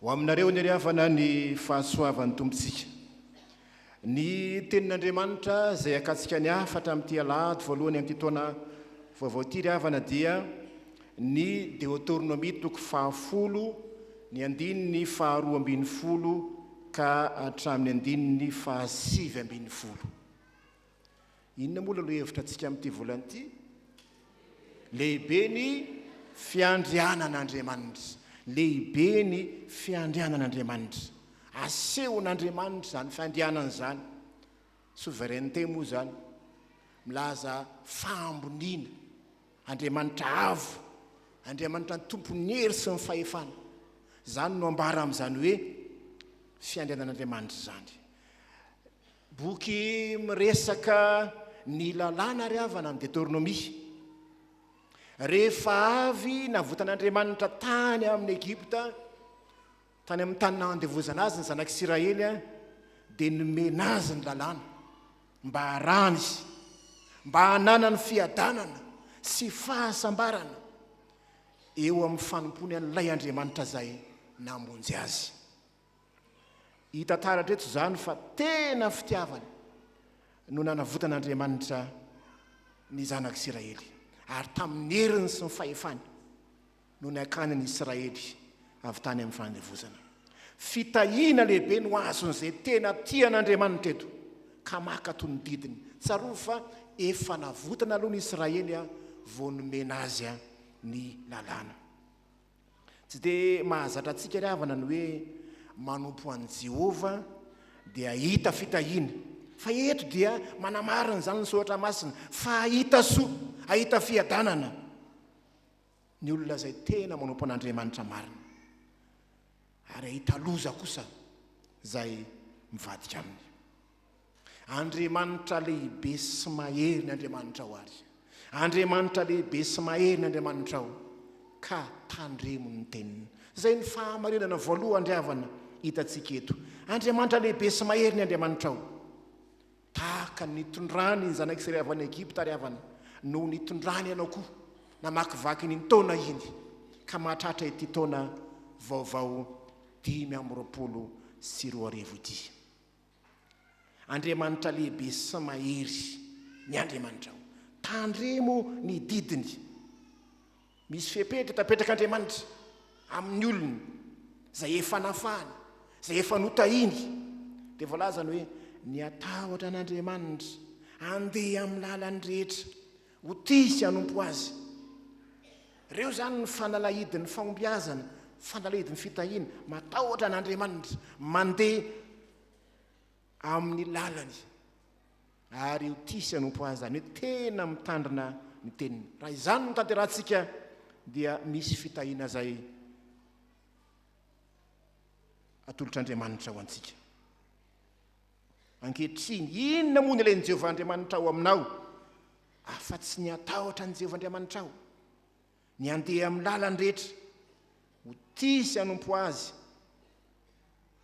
ho aminareo ny ry havana ny fahasoavan'ny tompontsika ny tenin'andriamanitra izay akatsika ny hafatra amin'ity alahady voalohany amin'ity taona vaovao ity ry havana dia Ny Deoteronomia toko fahafolo, ny andininy faharoa ambin'ny folo ka hatramin'ny andininy fahasivy ambin'ny folo. Inona moa ilay hevitra antsika amin'ity volana ity? Lehibe ny fiandrianan'Andriamanitra. Lehibe ny fiandrianan'Andriamanitra. Asehon'Andriamanitra izany fiandrianana izany. Souveraineté moa izany. Milaza fahamboniana. Andriamanitra avo, Andriamanitra ny Tompon'ny hery sy ny fahefana. Izany no ambara amin'izany hoe fiandrianan'Andriamanitra izany. Boky miresaka ny lalàna ry havana ny Deteronomia. Rehefa avy navotan'Andriamanitra tany amin'ny Egypta Tany amin'ny tany nandevozana azy ny zanak'Isiraely dia nomena azy ny lalàna mba harahana izy, mba hananany fiadanana sy fahasambarana eo amin'ny fanompoany an'ilay Andriamanitra izay namonjy azy. Hita taratra eto izany fa tena fitiavana no nanavotan'Andriamanitra ny zanak'Isiraely, ary tamin'ny heriny sy ny fahefany. no nakany ny Israely avy tany amin'ny fanandevozana. Fitahiana lehibe no azon'izay tena tia an'Andriamanitra eto, ka maka toy ny didiny. Tsarovy fa efa navotana aloha ny Israely vao nomena azy ny Lalàna. Tsy dia mahazatra antsika ry havana ny hoe manompo an'i Jehovah dia hahita fitahiana. Fa eto dia manamarina izany ny Soratra Masina, fa hahita soa, hahita fiadanana. Ny olona izay tena manompo an'Andriamanitra marina ary hahita loza kosa izay mivadika aminy. Andriamanitra lehibe sy mahery ny Andriamanitrao ary. Andriamanitra lehibe sy mahery ny Andriamanitrao, ka tandremo ny teniny. Izay ny fahamarinana voalohan-dry havana hitantsika eto. Andriamanitra lehibe sy mahery ny Andriamanitrao. Tahaka ny nitondrany ny zanak'i Israely avy any Egypta ry havana, no nitondrany ianao koa namakivaky iny taona iny, ka mahatratra ity taona vaovao dimy amby roapolo sy roa arivo ity. Andriamanitra lehibe sy mahery ny Andriamanitrao. Tandremo ny didiny. Misy fepetra tapetrak'Andriamanitra amin'ny olony izay efa nafahany, izay efa notahiny. Dia voalaza ny hoe, Ny hatahotra an'Andriamanitra, handeha amin'ny lalany rehetra, ho tia sy hanompo Azy. Ireo izany ny fanalahidin'ny fahombiazana, fanalahidin'ny fitahiana, matahotra an'Andriamanitra, mandeha amin'ny lalany ary io tia sy hanompo azy izany hoe tena mitandrina ny teniny raha izany no tanterahantsika dia misy fitahiana izay atolotr'andriamanitra ho antsika ankehitriny inona moa ny ilay ny jehovah andriamanitra ao aminao afa-tsy ny atahotra ny jehovah andriamanitra ao Ny handeha amin'ny lalany rehetra, ho tia sy hanompo Azy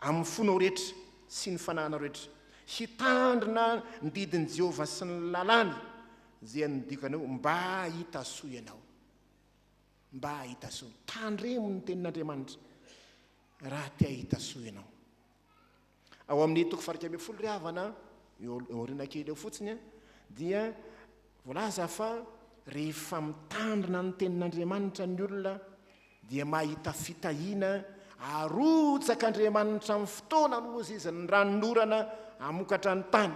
amin'ny fonao rehetra sy ny fanahinao rehetra, hitandrina ny didin'i Jehovah sy ny lalàny izay anodiako anao mba hahita soa ianao. Mba hahita soa. Tandremo ny Tenin'Andriamanitra raha te hahita soa ianao. Ao amin'ny toko fahairika ambin'ny folo ry havana, eo aoriana kely eo fotsiny, dia voalaza fa rehefa mitandrina ny tenin'Andriamanitra ny olona dia mahita fitahiana, arotsaka Andriamanitra amin'ny fotoana nohoziziny ny ranonorana hamokatra ny tany,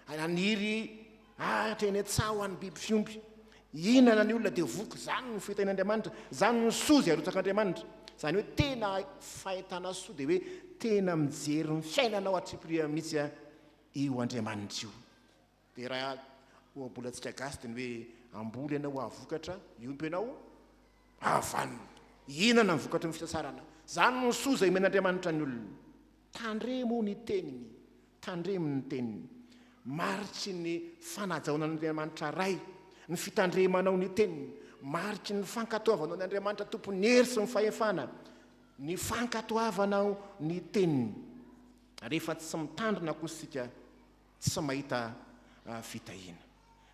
haniry Ahitra eny an-tsaha ho an'ny biby fiompy. Hihinana ny olona dia voky. Izany no fitahian'Andriamanitra. Izany no soa izay arotsak'Andriamanitra. Izany hoe tena fahitana soa dia hoe tena mijery ny fiainanao atriampirihany mihitsy io Andriamanitra io. Dia raha ohabolantsika gasy dia ny hoe hamboly ianao hahavokatra, hiompy ianao hahavanona. Hihinana ny vokatry ny fisasarana. Izany no soa izay omen'Andriamanitra ny olona. Tandremo ny teniny, tandremo ny teniny. Mariky ny fanajaona an' Andriamanitra Ray ny fitandremanao ny teniny, mariky ny fankatoavanao an' Andriamanitra Tompon' ny hery sy ny fahefana ny fankatoavanao ny teniny. Rehefa tsy mitandrina kosa isika, tsy mahita fitahiana.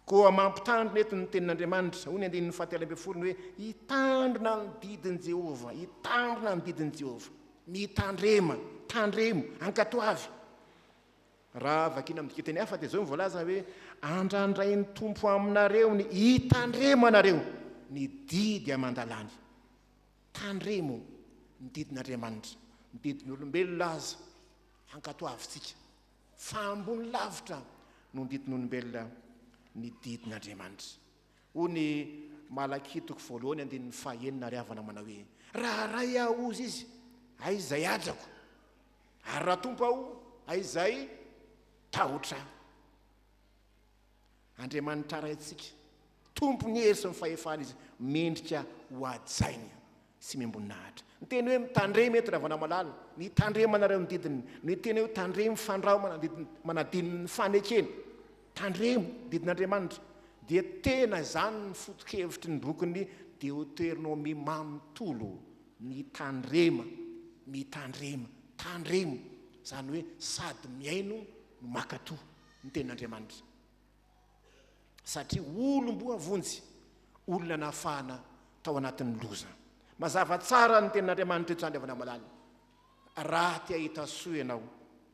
Koa mampitandrina eto ny Tenin'Andriamanitra, hoy ny andininy fahatelo ambin'ny folo, ny hoe hitandrina ny didin'i Jehovah, hitandrina ny didin'i Jehovah. Mitandrema, tandremo, ankatoavy. Raha vakiana amin'ny dikateny hafa dia izao no voalaza hoe andrandrain'ny Tompo aminareo ny hitandremanareo ny didy aman-dalàny. Tandremo ny didin'Andriamanitra, ny didin'olombelona aza, ankatoavintsika. Fa ambony lavitra noho ny didin'olombelona ny didin'Andriamanitra. Hoy ny Malakia toko voalohany andininy fahenina ary havana manao hoe, Raha Ray Aho, hozy Izy, hay izay hadrako, ary raha Tompo Aho, hay izay tahotra Ahy. Andriamanitra Raintsika, Tompon'ny hery sy ny fahefana Izy, mendrika hohajaina sy miambon'ahitra. Ny teny hoe mitandrema eto, Ravana Malala, ny tandremana ireo ny didiny, ny teny hoe tandremo, fandrao manadino ny fanekena, tandremo didin'Andriamanitra, dia tena izany ny foto-kevitry ny bokin'ny Deoteronomia manontolo, mitandrema, mitandrema, tandremo, izany hoe sady mihaino no maka toa. ny tenin'Andriamanitra, satria olom-boavonjy, olona nafahana tao anatin'ny loza. Mazava tsara ny tenin'Andriamanitra eto izany, havana malala. Raha te hahita soa ianao,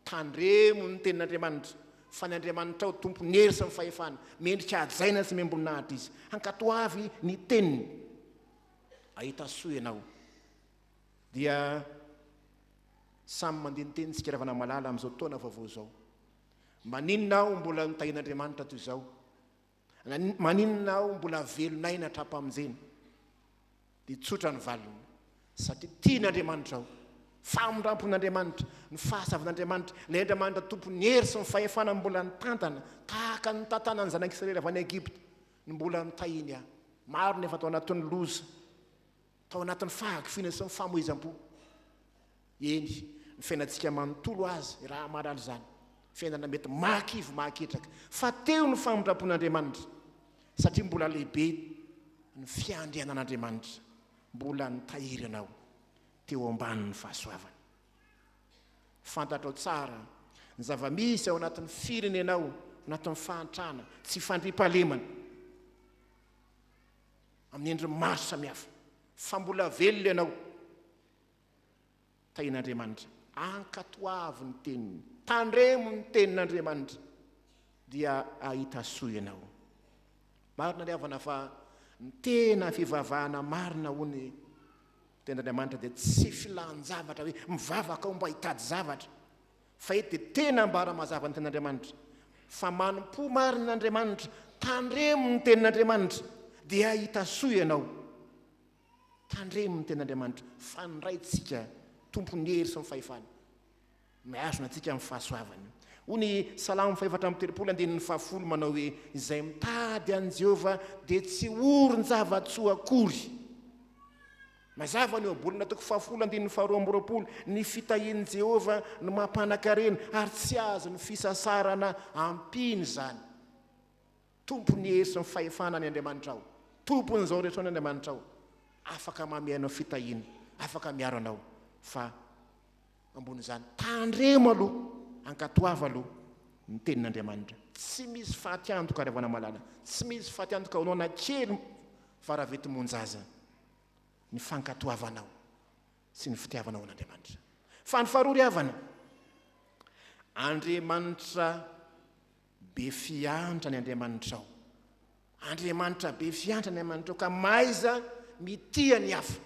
tandremo ny tenin'Andriamanitra, fa ny Andriamanitrao tompon'ny hery sy ny fahefana, mendrika hajaina sy miambon'nahitra Izy. Ankatoavy ny teniny, hahita soa ianao. Dia samy mandiniteny isika ravana malala amin'izao taona vaovao izao. Maninona aho mbola notahian'Andriamanitra toy izao? Maninona aho mbola velon'aina hatrampamonjena? Dia tsotra ny valiny, satria tian'Andriamanitra aho. Famindrampon'Andriamanitra, ny fahazavan'Andriamanitra, ilay Andriamanitra Tompon'ny hery sy ny fahefana mbola nitantana, tahaka ny nitantanan'ny zanak'Israely avy any Egypta, no mbola notahiany ahy. Maro ny efa tao anatin'ny loza. tao anatin'ny fahakiviana sy ny famoizam-po. Eny, ny fiainantsika manontolo aza raha mahalala izany, fiainana mety mahakivy mahaketraka, fa teo ny famindram-pon'Andriamanitra, satria mbola lehibe ny fiandrianan'Andriamanitra, mbola nitahiry anao teo ambanin'ny fahasoavany. Fantatrao tsara ny zava-misy ao anatin'ny firenenao, anatin'ny fahantrana, tsy fandriampahalemana. amin'ny endriny maro samihafa fa mbola velona ianao tahin'Andriamanitra ankatoavo ny teniny tandremo ny tenin'Andriamanitra dia ahita soa ianao marina ny havana fa ny tena fivavahana marina ho ny tenin'Andriamanitra dia tsy filan-javatra hoe mivavaka aho mba hitady zavatra Fa eto dia tena ambara mazava ny tenin'Andriamanitra fa manompo marina an'Andriamanitra, tandremo ny tenin'Andriamanitra dia hahita soa ianao. Tandremo ny tenin'Andriamanitra fa ny Raintsika tompon'ny hery sy ny fahefana no mihazona antsika amin'ny fahasoavany. Hoy ny Salamo fahefatra amby telopolo andininy fahafolo manao hoe, Izay mitady an'i Jehovah dia tsy horon-java-tsoa akory. Mazava ny ohabolana toko fahafolo andininy faharoa amby roapolo, Ny fitahian'i Jehovah no mampanan-karena, ary tsy azon'ny fisasarana ampiana izany. Tompon'ny hery sy ny fahefana ny Andriamanitrao. Tompon'izao rehetra izao ny Andriamanitrao. Afaka mamehy anao fitahiana, afaka miaro anao, fa ambonin'izany, tandremo aloha, ankatoava aloha ny Tenin'Andriamanitra. Tsy misy faty antoka, ry havana malala, tsy misy faty antoka ho anao na kely fa raha vety monja aza. ny fankatoavanao sy ny fitiavanao an'Andriamanitra. Fa ny faharoa ry havana, Andriamanitra be fiantra ny Andriamanitrao. Andriamanitra be fiantra ny Andriamanitrao ka mahaiza mitia ny hafa.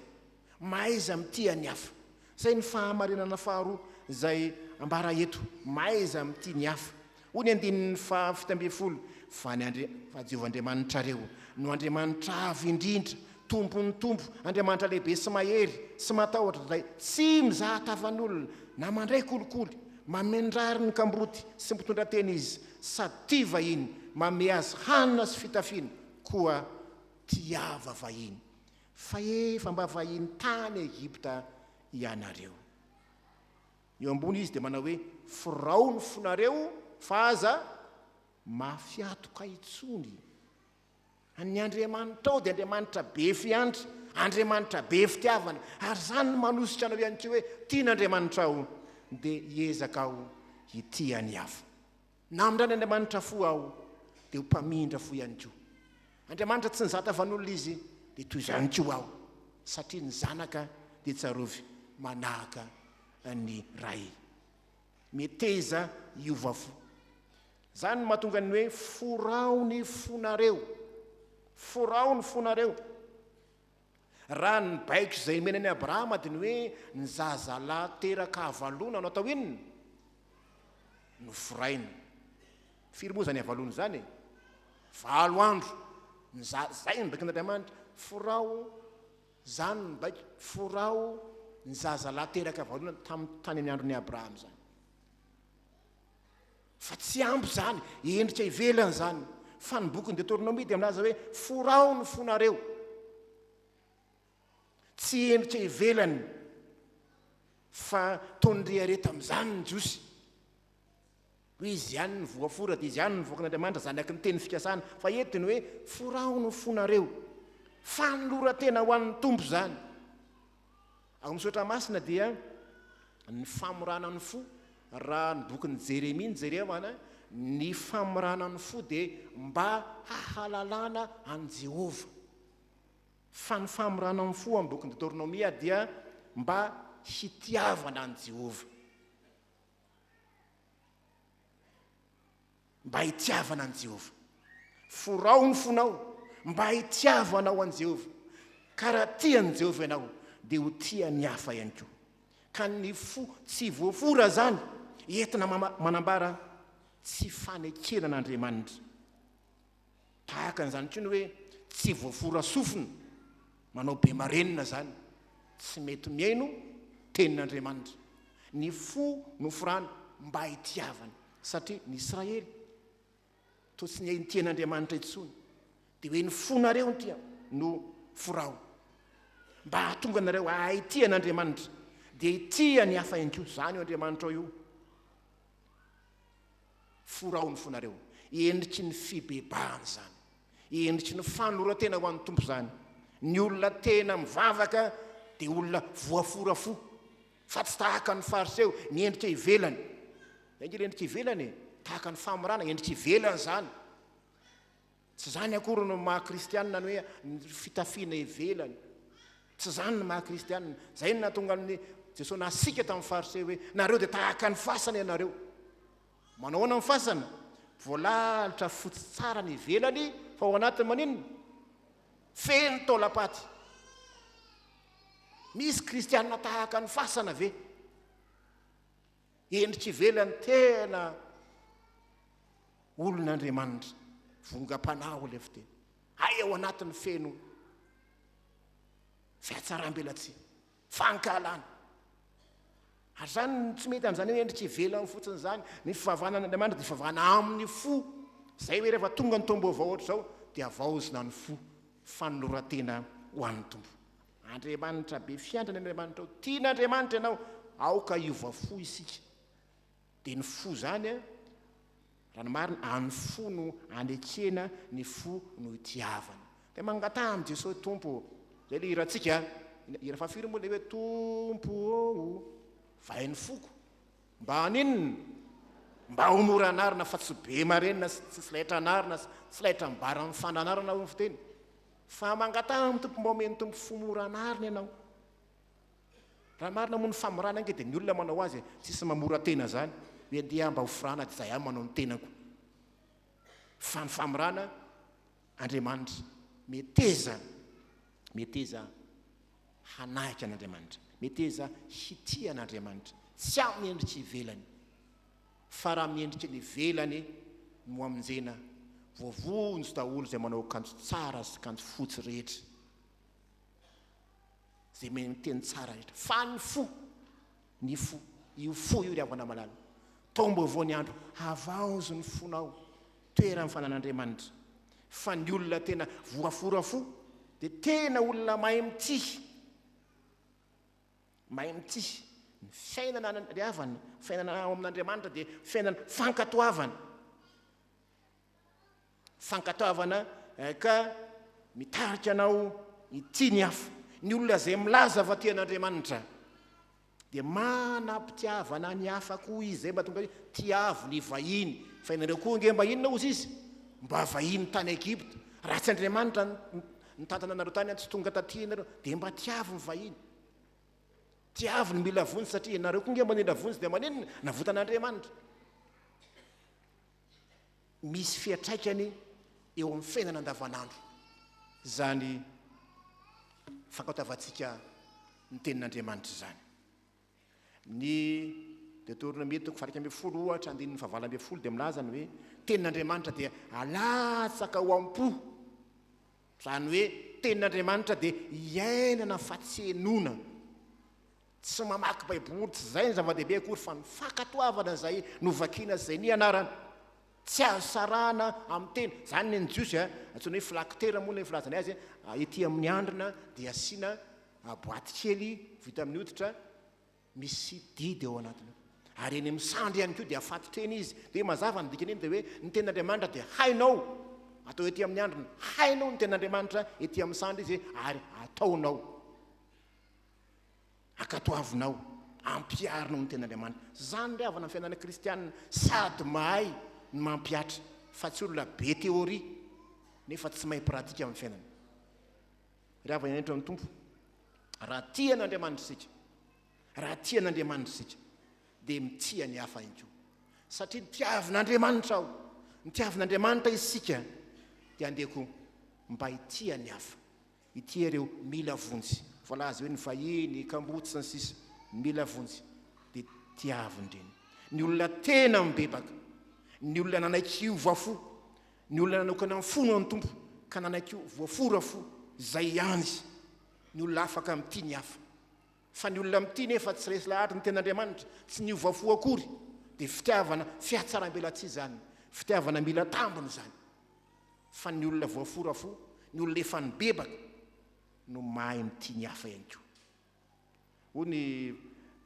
Mahaiza mitia ny hafa. Izay ny fahamarinana faharoa izay ambara eto, Mahaiza mitia ny hafa. Hoy ny andininy faha fito ambin'ny folo, Fa ny Andri-, fa Jehovah Andriamanitrareo, no Andriamanitra avo indrindra, Tompon'ny tompo, Andriamanitra lehibe sy mahery, sy matahotra, Ilay tsy mizaha tavan'olona, na mandray kolikoly, mamendrary ny kamboty sy mpitondra teny Izy, sady tia vahiny, manome azy hanina sy fitafiana, koa tiava vahiny. Fa efa mba vahiny tany Egypta ianareo. Eo ambony izy dia manao hoe, Firao ny fonareo fa aza mafy atoka intsony. Ny Andriamanitrao dia Andriamanitra be fiandry, Andriamanitra be fitiavana. Ary izany no manosika anao ihany koa hoe tian'Andriamanitrao dia hiezaka aho hitia ny hafa. Namindrany Andriamanitra fo aho dia ho mpamindra fo ihany koa. Andriamanitra tsy nizata vanolona izy dia toy izany koa aho satria ny zanaka dia tsarovy manahaka ny ray. Meteza hiova fo. Izany no mahatonga ny hoe forao ny fonareo. Forao ny fonareo. Raha ny baiko izay omena an'i Abrahama dia ny hoe ny zazalahy teraka avalona no atao inona? Noforaina. Firy moa izany avalona izany e? Valo andro. Ny za, zay ny baikon'Andriamanitra. Foraho, izany ny baiko, foraho ny zazalahy teraka avalona tamin'ny tany amin'ny andron'i Abrahama izany. fa tsy ampy izany, endrika ivelany izany, fa ny bokin'ny Deteronomia dia milaza hoe forao ny fonareo, tsy endrika ivelany, fa toa ny rehareha tamin'izany ny Jiosy, hoe izy ihany ny voafora dia izy ihany ny voakan'Andriamanitra, zanaky ny teny fikasana, fa eto dia ny hoe forao ny fonareo, fanoloran-tena ho an'ny Tompo izany. Ao amin'ny Soratra Masina dia ny famorana ny fo, raha ny bokin'i Jeremia no jerevana, ny famorana ny fo dia mba hahalalana an'i Jehovah. Fa ny famorana ny fo amin'ny bokin'i Deoteronomia dia mba hitiavana an'i Jehovah. mba hitiavana an'i Jehovah. Forao ny fonao mba hitiavanao an'i Jehovah, ka raha tia an'i Jehovah ianao, dia ho tia ny hafa ihany koa. Ka ny fo tsy voafora izany entina manambara tsy fanekena an'Andriamanitra. Tahaka an'izany koa ny hoe tsy voafora sofina, manao be marenina izany, tsy mety mihaino tenin'Andriamanitra. Ny fo noforany mba hitiavany, satria ny Israely toa tsy nihaino tenin'Andriamanitra intsony, dia hoe ny fonareo ntia no forao. Mba hahatonga anareo hahay hitia an'Andriamanitra, dia hitia ny hafa ihany koa. Izany io Andriamanitrao io. Forahony fo nareo. Endriky ny fibebahana izany. Endriky ny fanoloran-tena ho an'ny Tompo izany. Ny olona tena mivavaka dia olona voafora fo, fa tsy tahaka ny Fariseo, ny endrika ivelany. Zay nge le endrika ivelany e. Tahaka ny famorana, endrika ivelany izany. Tsy izany akory no maha kristianina ny hoe ny fitafiana ivelany. Tsy izany ny maha kristianina. Izay no nahatonga an'i Jesoa nasiaka tamin'ny Fariseo hoe, Nareo dia tahaka ny fasana ianareo. Manao ahoana ny fasana? Voalalotra fotsy tsara ny ivelany fa ao anatiny maninona? Feno taolam-paty. Misy kristianina tahaka ny fasana ve? Endrika ivelany tena olon'Andriamanitra, vongam-panahy hoy ilay fiteny. Hay ao anatin'ny feno fiatsaram-belatsihy, fankahalana. Ary izany no tsy mety amin'izany hoe endrika ivelany fotsiny izany. Ny fivavahana an'Andriamanitra dia fivavahana amin'ny fo. Izay hoe rehefa tonga ny taom-baovao hoatr'izao dia havaozina ny fo, fanoloran-tena ho an'ny Tompo. Andriamanitra be fiantrany Andriamanitra o! Tiana Andriamanitra ianao, aoka hiova fo isika. Dia ny fo izany a, raha ny marina, any fo no anekena, ny fo no itiavana. Dia mangataha amin'i Jesoa hoe, Tompo o! Izay ilay hirantsika a! Hira fahafiry moa ilay hoe Tompo ô! vahay ny foko. Mba haninona? Mba ho mora anarina fa tsy be marenina sy tsy laitra anarina sy tsy laitra mibara amin'ny fananarana hoy ny fiteny. Fa mangataha amin'ny Tompo mba omen'ny Tompo fo mora anarina ianao. Raha marina moa ny famorana ange dia ny olona manao azy e, tsisy mamora tena zany hoe ndeha mba ho forana dia zay aho manao ny tenako. Fa ny famorana Andriamanitra meteza meteza hanahika an'Andriamanitra, meteza hitia an'Andriamanitra, tsy amin'ny endrika ivelany. Fa raha amin'ny endrika eny ivelany no hamonjena, voavonjy daholo izay manao akanjo tsara sy kanjo fotsy rehetra, izay mihaino-teny tsara rehetra, fa ny fo, ny fo, io fo io ry havana malala, taom-baovao ny andro, havaozo ny fonao, toeran'ny fananan'Andriamanitra, fa ny olona tena voafora fo dia tena olona mahay mitia. Mahay mitia. Ny fiainana any an-dry havana, fiainana ao amin'Andriamanitra dia fiainana fankatoavana. Fankatoavana eh, ka mitarika anao hitia ny hafa. Ny olona izay milaza fa tia an'Andriamanitra dia manam-pitiavana ny hafa koa izy, izay mba tonga hoe tiavo ny vahiny. Fa ianareo koa ange mba inona hozy izy? Mba vahiny tany Egypta. Raha tsy Andriamanitra Nitantana anareo tany tsy tonga taty ianareo dia mba tiavo ny vahiny tiavo ny mila vonjy satria ianareo koa nge mba nila vonjy dia maninona navotan'Andriamanitra misy fiatraikany eo amin'ny fiainana andavanandro izany fankaotavantsika ny tenin'Andriamanitra izany Ny Deoteronomia toko faha-iraika ambin'ny folo ohatra andininy faha-valo ambin'ny folo dia milaza ny hoe tenin'Andriamanitra dia alatsaka ao am-po, izany hoe tenin'Andriamanitra dia iainana fa tsy henoina. Tsy mamaky Baiboly, tsy izay no zava-dehibe akory fa ny fankatoavana izay novakiana sy izay nianarana. Tsy azo sarahana amin'ny tena. Izany ny an'ny Jiosy a, antsoina hoe flaktera moa ilay filazany azy a, ety amin'ny handrina dia asiana boaty kely vita amin'ny hoditra misy didy ao anatiny ao. Ary eny amin'ny sandry ihany koa dia afatotra eny izy. Dia mazava ny dikan'iny dia hoe ny ten'Andriamanitra dia hainao, atao ety amin'ny handrina. Hainao ny ten'Andriamanitra ety amin'ny sandry izy ary ataonao. Ankatoavinao, ampiharinao ny Tenin'Andriamanitra. Izany indray havana ny fiainana kristianina, sady mahay ny mampihatra, fa tsy olona be théorie nefa tsy mahay pratique amin'ny fiainany. Ry havana indray eto amin'ny Tompo, raha tia an'Andriamanitra isika, raha tia an'Andriamanitra isika, dia mitia ny hafa ihany koa. Satria nitiavin'Andriamanitra aho, nitiavin'Andriamanitra isika, dia andeha koa mba hitia ny hafa. Ity ary ireo mila vonjy voalaza hoe ny vahiny, kamboty, sy ny sisa Mila vonjy dia tiaviny ireny. Ny olona tena mibebaka, ny olona nanaiky hiova fo, ny olona nanokana ny fony ho an'ny Tompo ka nanaiky ho voafora fo, izay ihany izy. Ny olona afaka mitia ny hafa. Fa ny olona mitia nefa tsy resy lahatra ny tenin'Andriamanitra, tsy niova fo akory, dia fitiavana fihatsarambelatsihy izany, fitiavana mila tambiny izany. fa ny olona voafora fo, ny olona efa nibebaka no mahay mitia ny hafa ihany koa. Hoy ny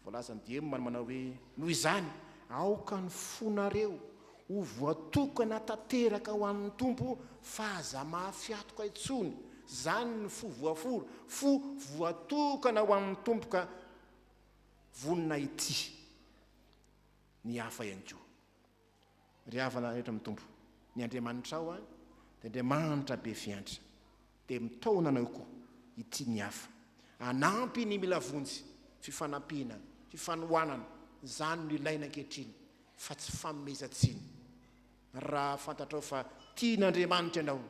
voalazan'i Diem ary manao hoe, Noho izany, aoka ny fonareo ho voatokana tanteraka ho an'ny Tompo fa aza mahafihatoka intsony, izany ny fo voafora, fo voatokana ho an'ny Tompo ka vonona hitia ny hafa ihany koa. Ry havana rehetra amin'ny Tompo, ny Andriamanitrao an, dia Andriamanitra be fiantra, dia mitaona anao koa ity ny hafa, hanampy ny mila vonjy, fifanampiana, fifanohanana, izany no ilaina ankehitriny fa tsy fanomezan-tsiny, raha fantatrao fa tian'Andriamanitra ianao,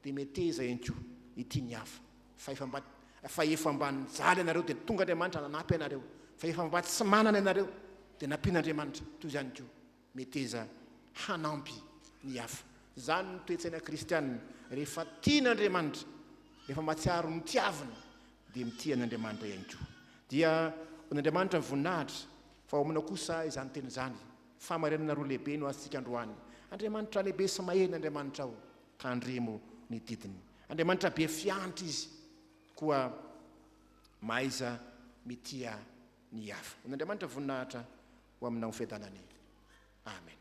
Dia meteza ihany koa ny tian'ny hafa, fa efa mba fa efa mba nijaly ianareo dia tonga Andriamanitra nanapy anareo, fa efa mba tsy manana ianareo dia nampian'Andriamanitra, toy izany koa meteza hanampy ny hafa. Izany no toe-tsaina kristiana, rehefa tian'Andriamanitra, rehefa mahatsiaro ny tiaviny dia mitia an'Andriamanitra ihany koa. Dia ho an'Andriamanitra ny voninahitra, fa ao aminao kosa izany teny izany. Fahamarinana roa lehibe no azontsika androany, Andriamanitra lehibe sy mahery ny Andriamanitrao, Tandremo ny didiny. Andriamanitra be fiantra Izy, koa mahaiza mitia ny hafa. Hon'Andriamanitra voninahitra ho aminao Fiadanany. Amena.